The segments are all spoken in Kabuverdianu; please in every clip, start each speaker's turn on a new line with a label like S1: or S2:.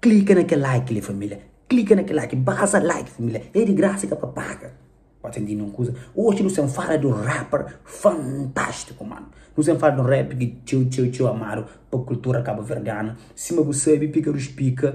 S1: Klika na kel like li família Klika na kel like Basa like família É di grasa e ka pa paga Pode sen dina un kuza Oxi nu sen fala di un rapper fantástico mano Nu sen fala di un rapper ki txeu txeu txeu amadu pa kultura kabuverdianu Sima bu sabe Pika Rus Pika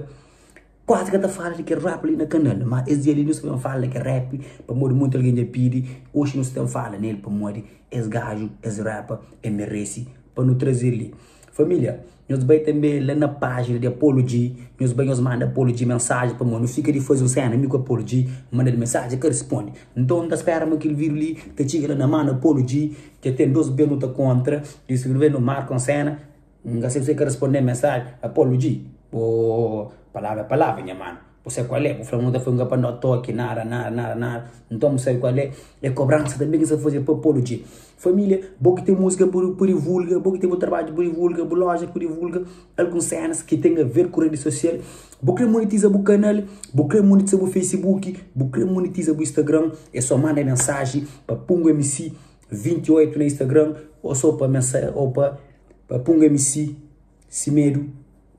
S1: kuazi ka ta fala di kel rapper li na kanal Má es dia li nu sta ben fala di kel rapper pamodi monti algen dja pidi Oxi nu sta ben fala nel pamodi es gaju es rapper el merese pa nu traze-l li Família. Nhos bai tanbê la na pájina di Apolo G. Nhos bai, nhos manda Apolo G mensaji pamodi nu fika di faze un séna. Mi ku Apolo G manda-l mensaji, el ka responde. Nton, N ta spéra ma kel vídiu li ta txiga la na mân di Apolo G. Dja ten dôs bês nu ta kontra i si nu ben, nu marka un séna. N ka sebe si el ka responde-m mensaji. Apolo G, Bo, palavra é palavra, nha manu. Bu sabe kual é? Bu fla ma bu ta faze un kapanhota to ki nada, nada, nada, nada. Nton bu sabe kual é? É kobransa tanbê ki es ta faze pa pô-lu dje. Família, bo ki ten múzika bu divulga, bo ki ten bu trabadju bu divulga, bu loja bu divulga, alguns sénas ki ten aver ku redi sosial. Bu krê monetiza bu kanal, bu krê monetiza bu facebook, bu krê monetiza bu instagram, é sô manda mensaji pa pungomc28 na instagram ô sô pa mensa ô pa pungomc. Si medu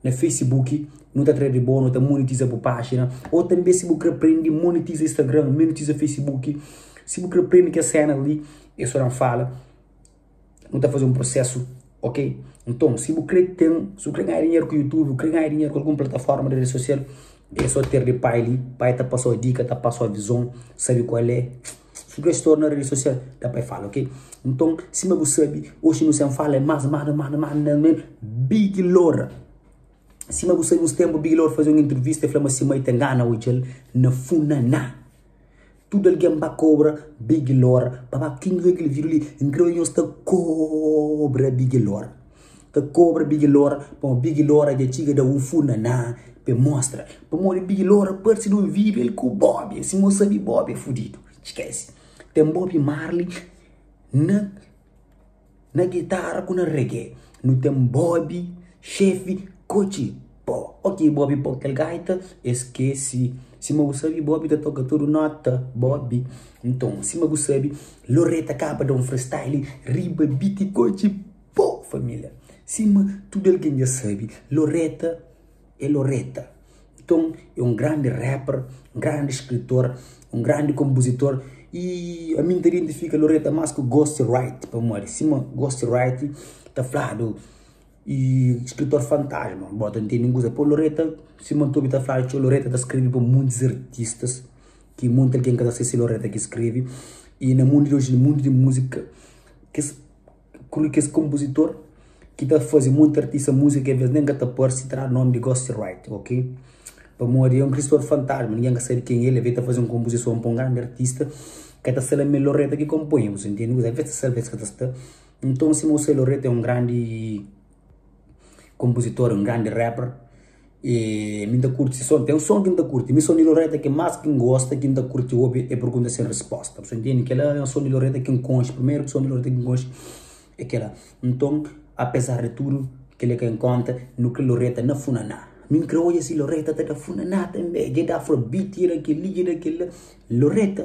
S1: na facebook nu ta tra di bo nu ta monetiza bu pagina ou tanbe si bu kre prende monetiza instagram monetiza facebook si bu kre prende kes senas li e so dan fala nu ta faze um processo ok nton si bu kre ten si bu kre ganha dinheru ku youtube kre ganha dinheru ku algum plataforma de rede social e so ter di pai li pai ta pasao dika ta pasao vison sabe kual é. Ki ku es torna redi sosial? Da pa e fala ok. Nton sima bu sabi oxi nu sen fala e mas mas mas mas na me Big Lora. Sima bu sabi uns tenpu Big Lora faze un intrivista e fla ma si mai ta ngana odja-l na Funaná. Tudu algen ba kobra Big Lora. Pabia kin redi di video li? N kre odja nhos ta kobra Big Lora. Ka kobra bigi lora pamo bigi lora dja txiga da un funa na pe mostra pamodi bigi lora parsi di un vibe el ku bobi si mo sabi bobi é fudidu skesi ten bobi marli na na guitarra ku na reggae nu ten bobi xefi kotxi po ok bobi po kel gaita é skesi sima bu sabi bobi ta toka tudu nota bobi nton sima bu sabi loreta kaba da un freestyle riba biti kotxi. Pô família, sima tudu algen dja sabe, Loretta é Loretta. Nton, é un grandi rapper, un grandi skritor, un grandi konpuzitor i ami N ta identifika Loretta más ku Ghost Wright. Pamodi sima Ghost Wright ta fladu i skritor fantasma, bo ta ntende un kuza, pô Loretta, sima N ta obi ta fladu txeu, Loretta ta skrebe pa montis artistas ki monti algen ka ta sê si Loretta ki skrebe. I na mundu di oji, mundu di múzika kes. Kulu kes kompuzitor ki ta faze monti artista múzika k'é bes nen ka ta parse tra nome di Ghost Wright ok pamodi é un kristor fantasma ningen ka sabe ken el é ve ta faze un konpuzison pa un grandi artista ka ta sela me loreta ki konponha bu ta ntende kuza ves ta sel ves ka ta sta nton sima u sai loreta é un grandi konpuzitor un grandi rapper. E mi n ta kurti se son. Ten son ki n ta kurti. Mi son di Loreta ki más ki n gosta, ki n ta kurti obi é Pergunta Sen Respósta. Bos ta ntende? Kel-la é un son di Loreta ki n konxe. Primeru son di Loreta ki n konxe é kel-la. Nton, apezar di tudu kel li ki N konta, nu kre Loreta na funaná. Mi n kre odja si Loreta ta da funaná tanbe. Dja e da afrobeat, dja e da kel-li, dja e da kel-la. Loreta!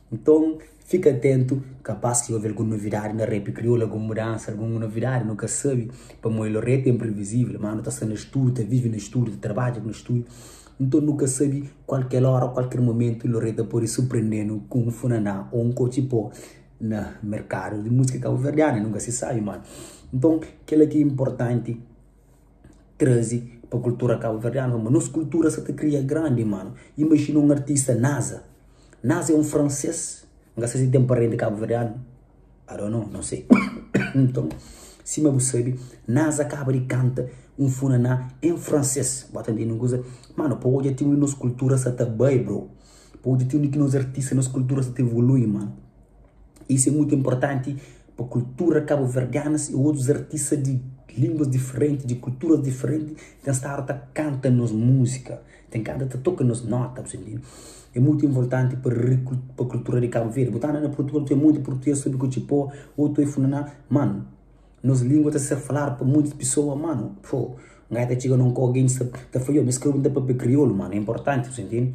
S1: Nton, fika atentu, kapás ki obi algun novidadi na rap kriolu, algun mudansa, algun novidadi nu ka sabe, pamodi lo rap é inprivizivel. Má nu ta sta na studu, ta vive na studu, ta trabadja na studu, nton nu ka sabe kualker óra, kualker momentu lo rap ta pode surprende-nu ku un funan'á ô un kotxi pó na merkadu di múzika kabuverdianu. Nu ka si sabe, mano. Nton, kel-la ki é inportanti. traze pa kultura kabuverdianu, fla ma, nos kultura sa ta kria grandi manu. Imajina un artista Naza. Naza é un fransês, N ka sei si el ten parenti kabuverdianu, I don't know, no sei. Nton, sima bu sabe, Naza kaba di kanta un funaná en fransês. Bo ta ntende un kuza? Manu, pa odja ti undi nos kultura sa ta bai, bro. Pa odja ti undi ki nos artista, nos kultura sa ta evolui, manu. Isso é muito importante pa cultura caboverdianas e outros artistas de linguas diferentes, de culturas diferentes tem estado ta canta nos música, tem canta ta toca nos nota, você entende? É muito importante pa recul pa cultura de Cabo Verde. Botana na Portugal tem muito português sabe que te pô ou tem funaná, mano, nos língua tem ser falado pa muitas pessoas, mano, pô, um gajo tem chega num com alguém sabe, tem falou, eu me escrevo um papel crioulo, mano, é importante, você entende?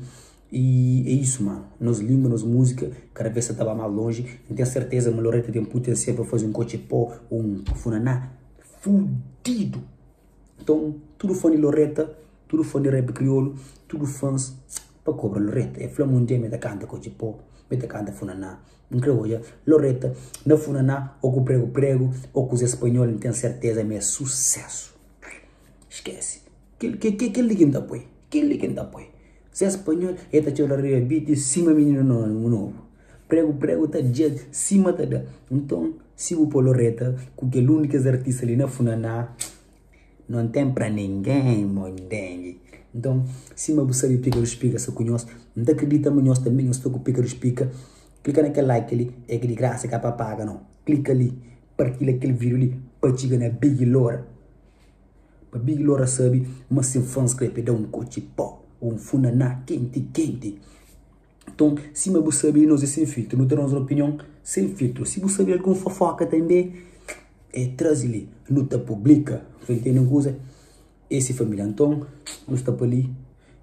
S1: Y é isu ma, nos lingua, nos múzika kada vez sa ta ba más lonji. N ten serteza ma Loretta ten putensial pa faze un Kotxepô ô un Funaná fudidu. Nton, tudu fã di Loretta, tudu fã di rap kriolu, tudu fãs pa kobra Loretta. E fla-m un dia mi ta kanta Kotxepô, mi ta kanta Funaná. N kre odja Loretta na Funaná ô ku pregu-pregu ô kuzê spanhol. N ten serteza ma é susésu. Skese. Kel li ki N ta poi. Kel li ki N ta poi. Zé Spanhol e ta txora riba beat sima mininu novu. Pregu pregu ta dja sima ta da. Nton, si bu po-l reta ku kel un di kes artista li na funaná, no ten pra ningen, bo ntende? Nton, sima bu sabe pika dus pika sta ku nhos, N ta kridita ma nhos tanbe nhos sta ku pika dus pika. Klika na kel like li, é ki di grasa, ka pa paga no. Klika li, partilha kel video li pa txiga na Big Lora. Pabia ki Lora sabe ma se fans krê pa e da un kotxi pó ô un funaná kenti-kenti. Nton, sima bu sabe, nos é sen filtru, nu ta da nos opinion sen filtru. Si bu sabe algun fofóka tanbê, eh traze li, nu ta publika. Tá intende un kuza? Es é família. Nton, nu sta pa li,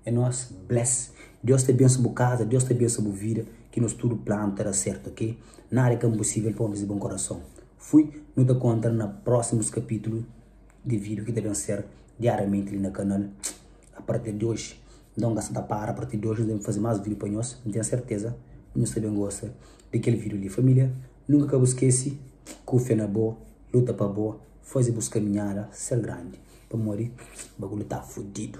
S1: é nos. Bless! Deus ta bensa bu kaza, Deus ta bensa bu vida, ki nos tudu planu ta da sértu, ok? Nada é ka inposível pa ómis di bon korason. Fui, nu ta kontra na prósimus kapítulu di vídiu ki ta ben ser diáriamenti li na kanal a partir di oji. Nton, n ka sta ta para, a partir di oji nu ta ben faze más vídiu pa nhos, n ten serteza ma nhos ta ben gosta di kel vídiu li. Família, nunka ka bu skese kufia na bo, luta pa bo faze bus kaminhada ser grandi, pamodi bagulhu ta fudidu.